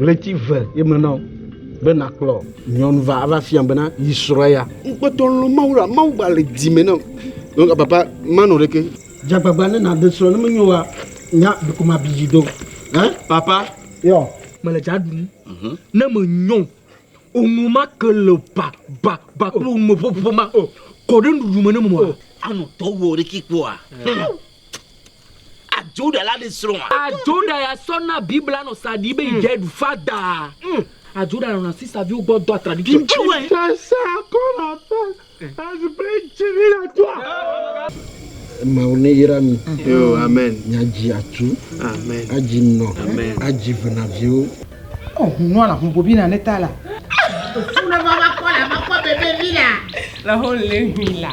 Ɣleti ve ye me na wò be nàkplɔ nyɔnu va ava fia bena yi srɔ̃ ya. Ŋkpɔtɔ lɔ̃ Mawu la, Mawu gba le dzi me na wò. Donc papa manu ɖeke. Dzagbagba ne nàde srɔ̃ ne menyo wa nya biko mabi dzi do. Hein papa. Yɔ. Mele dza ɖum. Ne menyɔ oŋu ma ke le ba ba ba kple oŋu me ƒoƒo ma o. Kɔ ɖe nuɖuɖu me ne mo a. Anu tɔ wɔ ɖeki kpɔa. A Juda la ɖi srɔ̃ a. A Juda ya sɔ na Biblia nɔ sa ɖi be yi dze ɖu fada. A Juda nɔ na sisa viwo gbɔ dɔ a tradition. Ŋtsu wɛ. Sese a kɔ nɔ fe a zi be ŋtsi vi la tu a. Mawu ne yra mi. Amen. Mi a dzi a tu. Amen. A dzi nɔ. Amen. A dzi ve na viwo. Ɔ hun nua la hun bobi na ne ta la. Fu ne va va kɔ la va kɔ bebe vi la. La ho le hun la.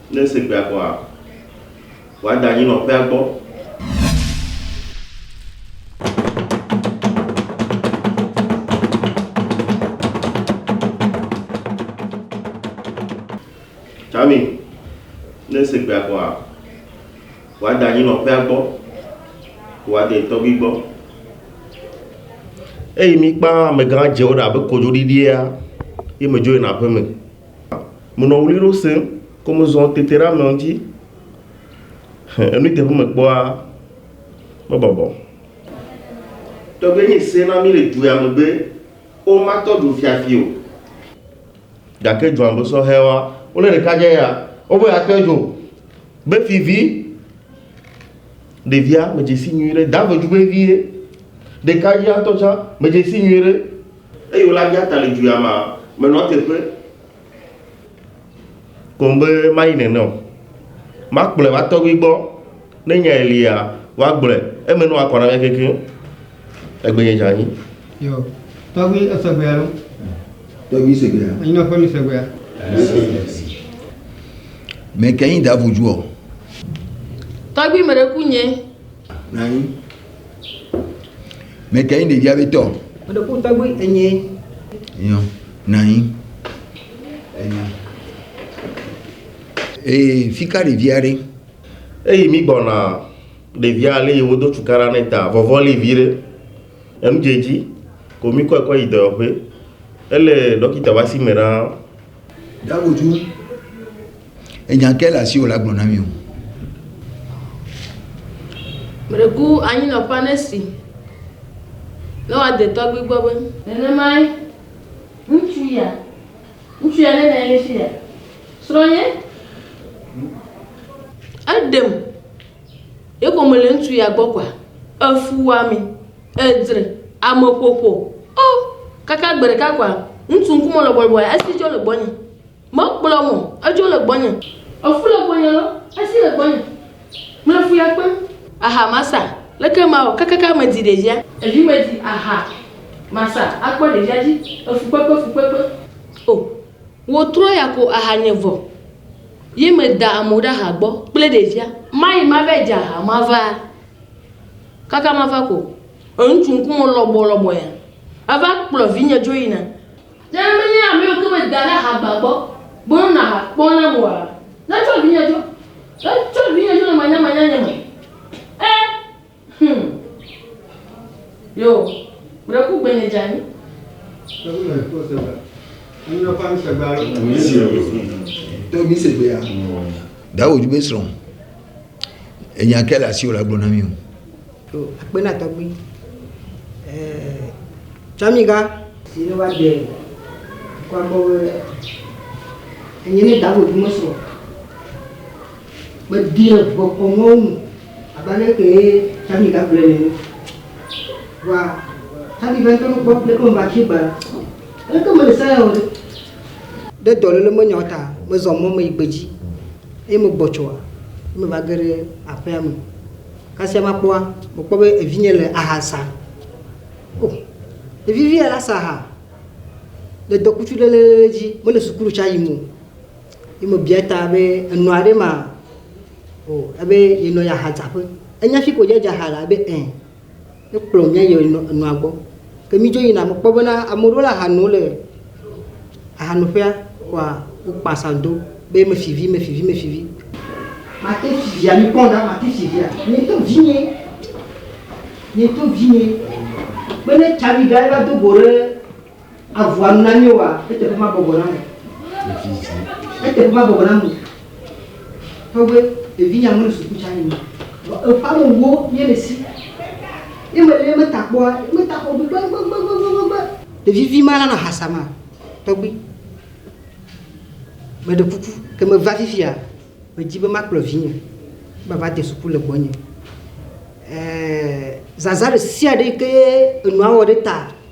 Ne ese gbea koa, wòada anyi nɔ ƒea gbɔ. Tami, ne ese gbea koa, wòada anyi nɔ ƒea gbɔ, wòade tɔgbi gbɔ. Eyi mi kpã amegã dzewo ɖe abe kodzoɖiɖia, yi me dzo yina aƒeme. Menɔ ɣli ɖo sẽŋ kɔ mezɔ tete ɖe ameawo ŋuti. Enui teƒe mekpɔa, mebɔbɔ. Tɔgbe nye se na mí le dua me be, womatɔ dzo fiafi o. Gake dzoa me sɔhɛwoa, wole ɖekadze ya wobe atɔe dzo be fivi. Ɖevia medze si nyuiɖe, dave dzu vevie. Ɖekadzea ŋutɔ tsã medze si nyuiɖe. Eye wòle aja ta le dzoya ma, menɔa teƒe koŋ be mayi nene o. Makplɔe va tɔgbui gbɔ, ne nyae lia, woagblɔe, eme ne woakɔ na mía kekeŋ. Egbenye dze anyi. Yo, tɔgbui esegbea lo. Tɔgbui segbea. Enyi nɔƒe mi segbea. Mèkɛnyi da vodzuɔ? Tɔgbui meɖe ku nye. Nanyi. Mète ŋu ɖevia be tɔ. Meɖe ku tɔgbi enye. Nyɔ, nɔ anyi. Enye. Ee, fi ka ɖevia ɖe? Eyi mi gbɔna ɖevia le yi wodo cukaɖa ne ta vɔvɔ li viɖe enu dze edzi ko mi kɔe kɔ yi dɔyɔƒe ele ɖɔkita ƒe asi me ɖaa. Meɖeku anyinɔƒea ne esi ne woade tɔgbui gbɔ be. Nenemae ŋutsu ya, ŋutsu ya ne nɔ anyi ɖe fi ya, srɔ̃nye, eɖem, ye ko mele ŋutsu ya gbɔ kɔa, efuwɔame. Edzre ameƒoƒo. O! Kaka gbe ɖeka koa, ŋutsu ŋkume lɔ bɔlbɔe, esi dzo le gbɔnye. Mekplɔm o, edzo le gbɔnye. Efu le gbɔnye lɔ, esi le gbɔnye. Mele fu ya kpem. Aha masa, leke mawɔ? Kakaka medi ɖevia. Evi medi aha masa akpɔ ɖevia dzi. Efukpekpe, fukpekpe. O! Wò trɔ ya ko aha nye vɔ. Ye meda amewo ɖe aha gbɔ kple ɖevia. Mayi mava dze aha mava. Kaka mava ko, ŋutsu ŋkume lɔbɔ lɔbɔ ya ava kplɔ vinye dzo yina. Ne menye amewo ke meda ɖe ahagba gbɔ be wonɔ aha kpɔm nam oa, netsɔ vinye dzo. Netsɔ vinye dzo le manyamanya nye me. E! Hum! Yo! Ŋɖe ku gbenye dze anyi. Ɖe wòdi be srɔ̃. Enya kae le asiwò la gblɔ na mí o. Ɖo akpe na tɔgbui Tsamiga. Si ne va ɖe dukɔa gbɔ be enye ne da vodzu me srɔ̃ kpe ɖi ɖe ŋukɔ kɔ mɔwo ŋu abe ale kee Tsamiga gblɔe nene. Vɔa Tsamiga ŋutɔ nu kpɔ leke meva afi gbea, aleke mele se ya o ɖe? Ɖe dɔléle menyawo ta mezɔ mɔ me yi gbedzi. Eye megbɔ tsɔa, eye meva ge ɖe aƒea me. Kasia makpɔa, mekpɔ be evinye le aha sa. O, ɖevi vi ya la sa aha le dɔkutu ɖe le dzi, mele sukulu tsa yim o. Ye mebia ta be enɔa ɖe ma? O, ebe yenɔ ya hadzaƒe. Enya fi ko yedza ha la? Ebe ẽ. Ekplɔ mía yi enɔ enɔa gbɔ. Ke mí dzo yina, me kpɔ bena ame ɖewo le aha nom le aha no ƒea, kɔa wo kpa sa do be me fi vi, me fi vi, me fi vi. Ma te fi via, mi kpɔ ɖa, ma te fi via. Nye ŋutɔ vi nye, nye ŋutɔ vi nye. Be ne tsa vi ɖa eva do go ɖe Avɔa nu na mí oa, eteƒe mabɔbɔ na mo. Ɖevi zi. Eteƒe mabɔbɔ na mo. Tɔgbe, ɖevi nya mele suku tsa nyima. Vɔ eƒa me wo nye le si. Ye me le me ta kpɔa, me ta xɔ gbegbegbegbegbegbe. Ɖevi vi ma lana hasa ma. Tɔgbe, me ɖe kuku ke me va fifia, me dzi be ma kplɔ vinye va va de suku le gbɔnye. Eee, zazã ɖe sia ɖe yi ke enua wɔ ɖe ta.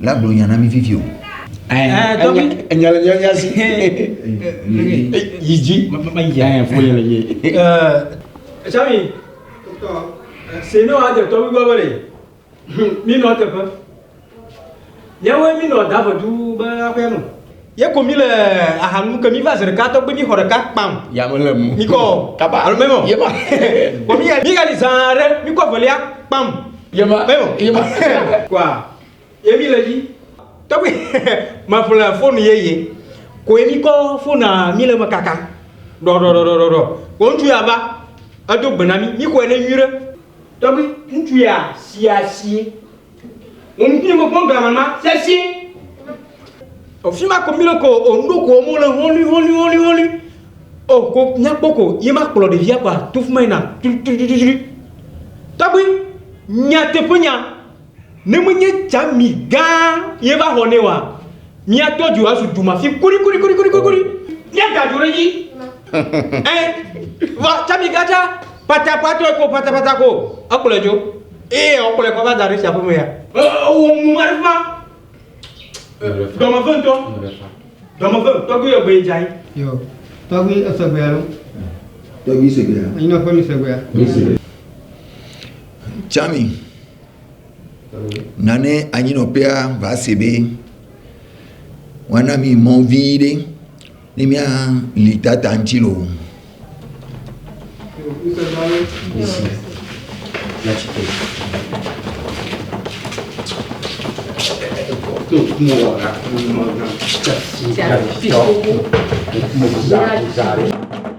La gblɔ nya na mí vivio. Enya le nya nya si. Yi dzi. Foli le ye. Sami. Senu adze tɔ gbígbɔ be le. Mí nɔ teƒe. Yẹwoe mí nɔ dave du be aƒea me. Ye ko mi le aha nu ke mi va zeɖeka tɔgbe mi xɔ ɖeka kpam. Ya me le mu. Mi kɔ. Kaba. Alo memo. Ye ma. Ko mi mi gali zã ɖe mi kɔ velia kpam. Ye ma. Memo. Ye ma. Kwa. Ye mi le yi. Tɔgbe me ƒle fonu ye ye. Ko ye mi kɔ fona mi le me kaka. Ɖɔ ɖɔ ɖɔ ɖɔ ɖɔ. Ko ŋutsu ya va edo gbe na mi mi xɔe ne nyuire. Tɔgbe ŋutsu ya si asi Wò ŋkume mekpɔ glamama sesĩe. O fima ko milo ko o nuɖo ko mo le holi holi holi holi. O ko nyakpɔ ko ye ma kplɔ ɖevia kwa to fima yina tututututu. Tɔgbi nyateƒe nya ne menye tsami gã ye va xɔ ne wa Míato dzo azu dumafi korikorikorikorikori. Míada dzo ɖe edzi. Ɛ, vɔ tsã migatsa patakpatɔe ko patapata ko. Ekplɔe dzo. Eye wòkplɔe kɔ va da ɖe tsiaƒe me ya. Ɛ, ewɔ nu ma ɖe ƒã. Dɔ me ve ŋutɔ. Dɔ me ve. Tɔgbui yɔ gbe yi dza yi. Yo, tɔgbui ese gbe alo? Tɔgbui se gbe ya. Anyinɔƒe mi se gbe ya. Tsã mi. Nane anyinɔƒea va se ɖe woana mi mɔ vi ɖe ne mía li tata ŋuti lo. Thank you.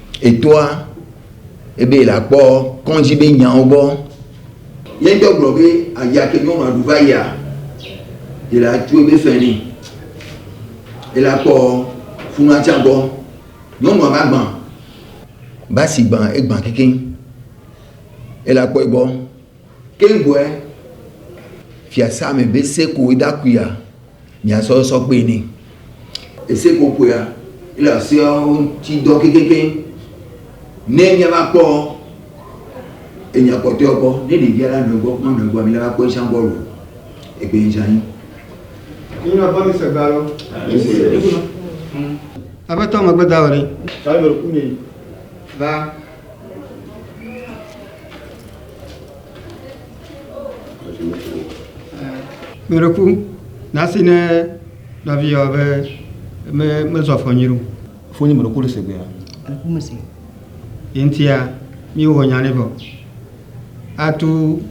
Etoa ebe yela kpɔ kɔndzi be nyawo gbɔ. Ye ŋtɔ gblɔ be aya ke nyɔnua ɖu va yia, yela tu ebe fɛ nɛ. Yela kpɔ funua tsa gbɔ. Nyɔnua va gbã. Basi gbã, egbã kekeŋ. Yela kpɔe gbɔ. Kegboɛ fiasa me be seko idakuia mia sɔ sɔ kpe ni. Eseko kpoea ile aseawo ŋti dɔ kekekeŋ. Ne mia va kpɔ enya kpɔtɔewo kpɔ, ne ɖevia la nɔe gbɔ mɔnɔe gbɔa, mi la va kpɔ eshã gbɔ lo. Egbe eshã yi. Nyi na kpɔ mi se gba lo. Aƒetɔ megbe dawɔ ɖe. Tsa yi me ɖo ku nye yi. Va. Mìɖeku nasi ne nɔviwòa be me mezɔ afɔ nyuie o. Fo nye mìɖeku le segbea. Ɖeku me se. Ye ŋutia mìwɔ nya ne vɔ. Atu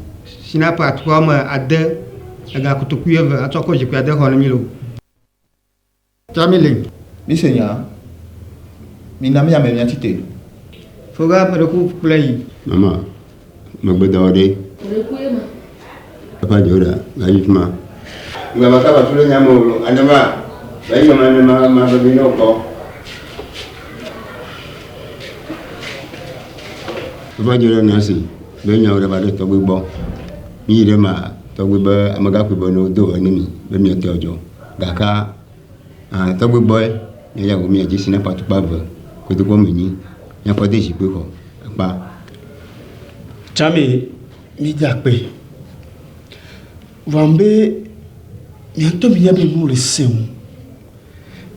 sinapu atukpa wɔme ade egakotoku eve atsɔ kɔ zikpui ade xɔ ne mì loo. Tami le. Mise nyaa. Mina mía me mía tsi te. Foga ƒe ɖeku kple yi. Mama, megbe dɔ ɖe. Ɖeku ye ma. Papa dze ɖa, va yi fima. Nga va kaba tu ɖe nya me o, ane ma, va yi ma ne ma ma bebe ne o kɔ. Papa dze ɖa na si, be nya o ɖe va ɖe tɔgbe gbɔ. Mi yi ɖe ma, tɔgbe be amegakui be ne o do ene mi, be mi ete o djo. Gakea aa tɔgbe gbɔe ne ya wòmia dzi si na ƒe atukpa eve kotokuwo me nyi ne ƒe de zikpui xɔ ekpa. Tsãme míede akpe vɔam be mía ŋutɔ míenya be nuwo le sẽ ŋu.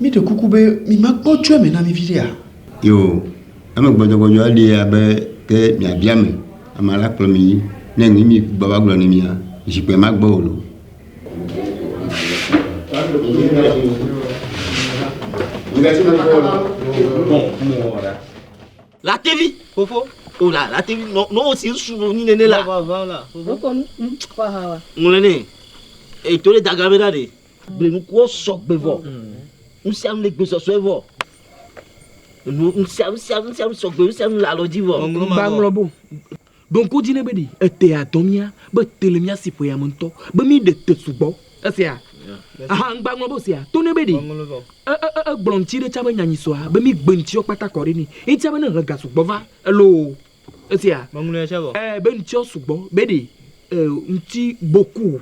Míɖe kuku be mimakpɔ tso eme na mí viɖea? Yoo, ame gbɔdzɔgbɔdzɔa li abe ke miabia ame, ame la kplɔ mi yi. Ne ŋu mi gbɔ va gblɔ ne mia, zikpuia magbɔ o lo. Latevi, fofo, o la latevi nɔ nɔ o si su nɔ nyine ne la. Wokɔ nu kɔ ha wa. Ŋlɛ ne, eto le daga bɛ na de. Gbenukuwo sɔ gbe vɔ, nusianu le gbe sɔsɔe vɔ. Nu nusianu nusianu nusianu sɔ gbe nusianu le alɔ dzi vɔ. Gbanglɔ bo. Ɖo ŋku edzi nɛ be ɖe etea dɔ mía be te le mía si ƒoya me ŋutɔ be míɖe te sugbɔ. Esia hã ŋgba ŋlɔ be sea to nɛ be ɖe e, e, e, egblɔ ŋuti ɖe tsã be nyanyi sɔa be mígbe ŋutiɔ kpata kɔ ɖe nɛ eŋutia be ne ŋhe ga sugbɔ va eloo. Esia e, be ŋutiɔ sugbɔ be ɖe e, ŋuti boku.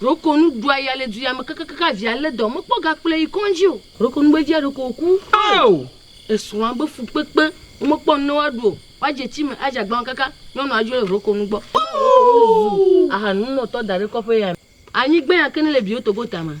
Ɖokonu ɖua ya le duya me kakakaka hafi alé dɔ mekpɔ ga kplɔe yi kɔndzi o. Ɖokonu be via ɖeko wòku o. Esrɔ̃a be fukpekpe womekpɔ nu ne woaɖu o. Woadze tsi me adze agbalẽ kaka nyɔnua dzo le ɖokonu gbɔ. Ɖokonu zu ahanunɔtɔ daɖe kɔƒe ya me. Anyi gbenya ke ne le biwo togo tame.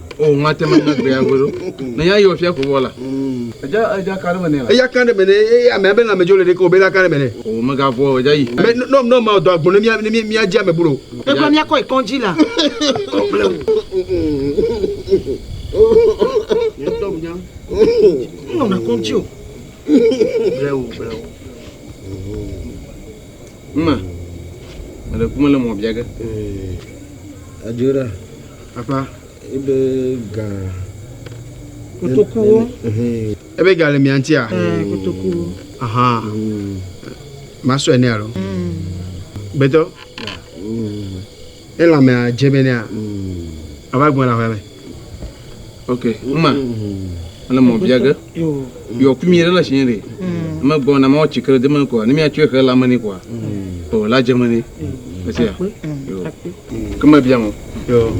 O ŋate me na gbea goɖo. Ne ya yɔ fia ko wɔ la. Eja eja kan ɖe me nɛ la. Eya kan ɖe me nɛ eye amea be lãme dzo le ɖe ko o be la kan ɖe me nɛ. O mega vɔ eja yi. Me nɔ nɔ ma dɔ agbo ne mia ne mia dzi ame bolo. E gblɔ mia kɔ yi kɔndzi la. Kɔ gble o. Nɔ na kɔndzi o. Gble o gble o. Mma. Mele kume le mɔ bia ge. Ee. Adjora. Aƒã, ebe gã. Kotokuwo. Ebe gã le mia ŋutia? Ɛɛ, kotokuwo. Aha. Masɔe nɛ alo? Gbetɔ. Elã mea dze be nea ava gbɔna ƒea me. Ok, uma. Ele mɔ bia ge. Yɔ ku mi ɖe la shiɛ ɖe. Ame gbɔ na mɔ tsikre de me kɔa ne mia tsɔe xe la me ne kɔa. O la dze me ne. Esia. Yo. Ke me bia mo. Yo.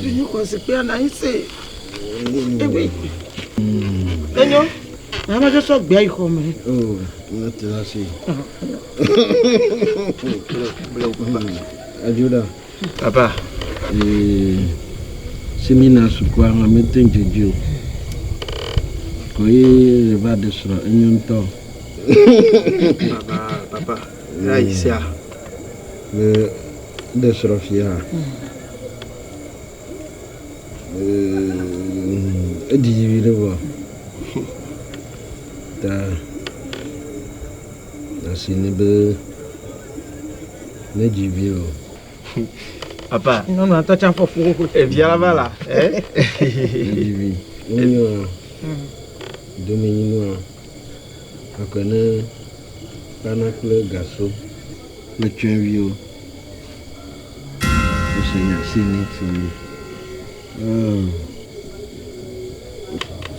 Di ni ko se pe na ise. Ebi. Enyo. Na ma je so gbe ai ko me. O. Na te la si. Bleu. Ajuda. Papa, ee, si mi na sukua hã mi te ŋdze dzi o. Kɔ yi le va ɖe srɔ enyo ŋtɔ. Papa, papa, ya yi sia. Le ɖe srɔ fia. Ee, edzi dzi vi ɖe vɔ. Ta. Asi ni be ne dzi vi o. Papa. Nyɔnu atɔ tsa fɔ fo fo. Evia la va la. Dzi vi. Wonyo. Domi nyinua. Akɔ ne kpana kple gasɔ. Metsɔe vi o. Ese nya si ni si.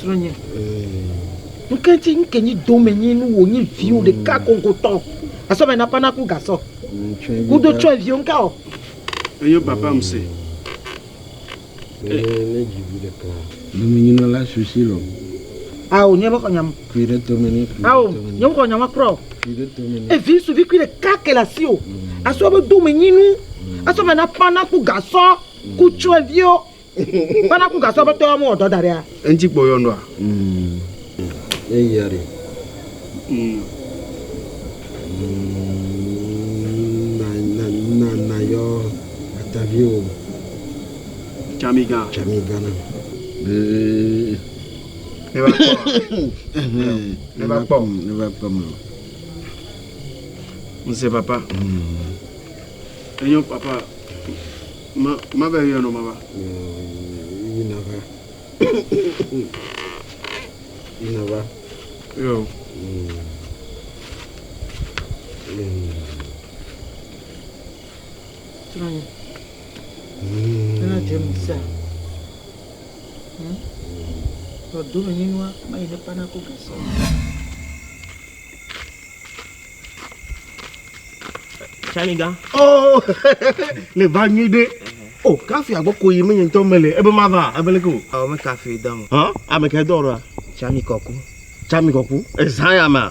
Srɔ̃nye. Nke ŋti nke nyi dome nyi nu wò nyi viwò ɖeka kokotɔ. Asɔ mɛ na pana ku gasɔ. Kudo tsɔɛ viwò nka ɔ. Eyo papa m se. Ne dzi vi ɖeka. Dome nyi nɔla susi lɔ. Ao nye me xɔ nyam. Kui ɖe tome ne. Ao nye me xɔ nyam akrɔ. Kui ɖe tome ne. Evi suvi kui ɖeka ke le asiwò. Asɔ be dome nyi nu. Asɔ mɛ na pana ku gasɔ. Ku tsyɔ̃eviwo be naku gasɔ aƒetɔ ya mewɔ dɔ da ɖea? Eŋti kpɔ yɔn ɖoa? Enyo papa ma ma be yɔ no ma ba. Yi na va. Yi na va. Yo. Tony. Ena je mi sa. Hmm. Tɔ do mi ni nua, ma yi ne pana ko gasa. Tsaniga. Oh, le va nyui ɖe. O, oh, kafi agbɔ ko yi menye ŋutɔ mele ebe ma va ebe leke o. Ɔ me kafi dɔ ŋu. Hã? Ame kɛ dɔ ɔrɔa? Tsami kɔku. Tsami kɔku. Ezã ya ma.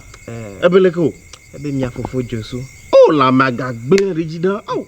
Ebe leke o. Ebe mia fofo Josu. O, la ma gagbe ɖe dzi ɖe. Au.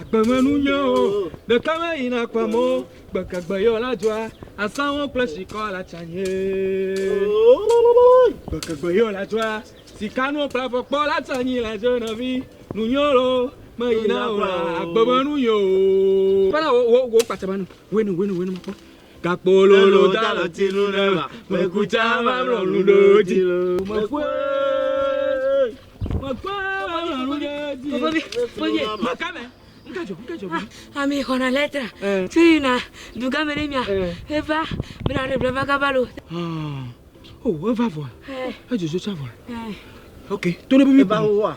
Agbemenu nyewo ɖeka me yi na kpam o, gbeke gbe yɔ la dzɔa, asawo kple sikɔ la tsa nye. Gbeke gbe yɔ la dzɔa, sikanu kple afɔkpɔ la tsa nyi la dze nɔvi, nu nyewo lo me yi na o la, agbemenu nyewo. Kpena wo, wo, wo kpatsa manu, wenu, wenu, wenu mɔkpɔ. Kakpololo da le ti nu ne va. Mekutsa va mlɔ nu ɖe dzi. Mekue. Mekue va mlɔ nu ɖe dzi. Bobi, bobi. Maka me. Ami xɔna lɛtra tso yina dugame ne mia eva bena ɖe bla va gava lo. O eva vɔa. Edzodzo tsa vɔa. Ok, to ne bobi. Eva wo wa.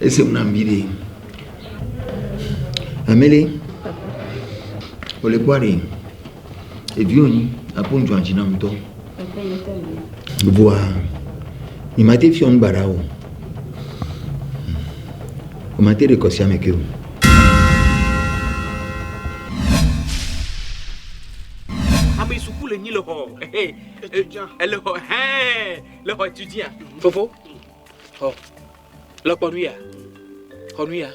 Ese ŋu nam viɖe. Ame ɖe, wòle kpɔ ɖe, evi wònyi, akpɔ ŋudzɔ dzi nam ŋutɔ. Vɔa, mi ma te fiɔ ŋu gbaɖa o. Wò ma te ɖe kɔsia me ke o. Ame suku le nyi le xɔ. Ele xɔ hɛn. Le xɔ tu dzia? Fofo, xɔ le kpɔ nu ya. Xɔ nu ya.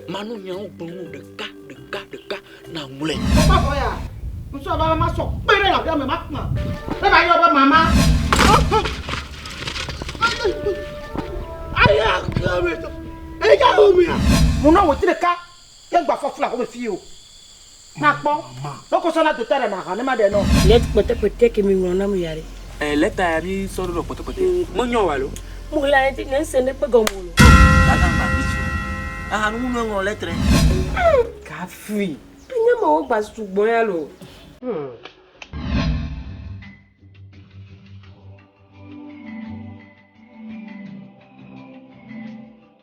Manu nyawo gblɔ nu ɖeka ɖeka ɖeka na ŋlɔe. Papa xɔ ya. Ŋusɔ bala ma sɔ kpe ɖe la me ma kpɔ. Ne ba yɔ be mama. Ayi a kla me to. Eja o mia. Muna wo ti ɖeka. Ke gba fɔ fla ko me fi o. Na kpɔ, me ko sɔ na dota ɖe na ha ne ma ɖe nɔ. Lɛt kpɛtɛkpɛtɛ ke mi ŋlɔ na mi ya ɖe. E lɛta ya mi sɔ ɖo nɔ kpɛtɛkpɛtɛ. Me nyɔ wa lo. Mu ɣla ne ti ne ŋse ne kpe gɔme o lo. Ga gã gba vi ci o. Aha nu nu eŋlɔ lɛtrɛ. Ga vi. E nya ma wo gba su gbɔ ya lo. Hum.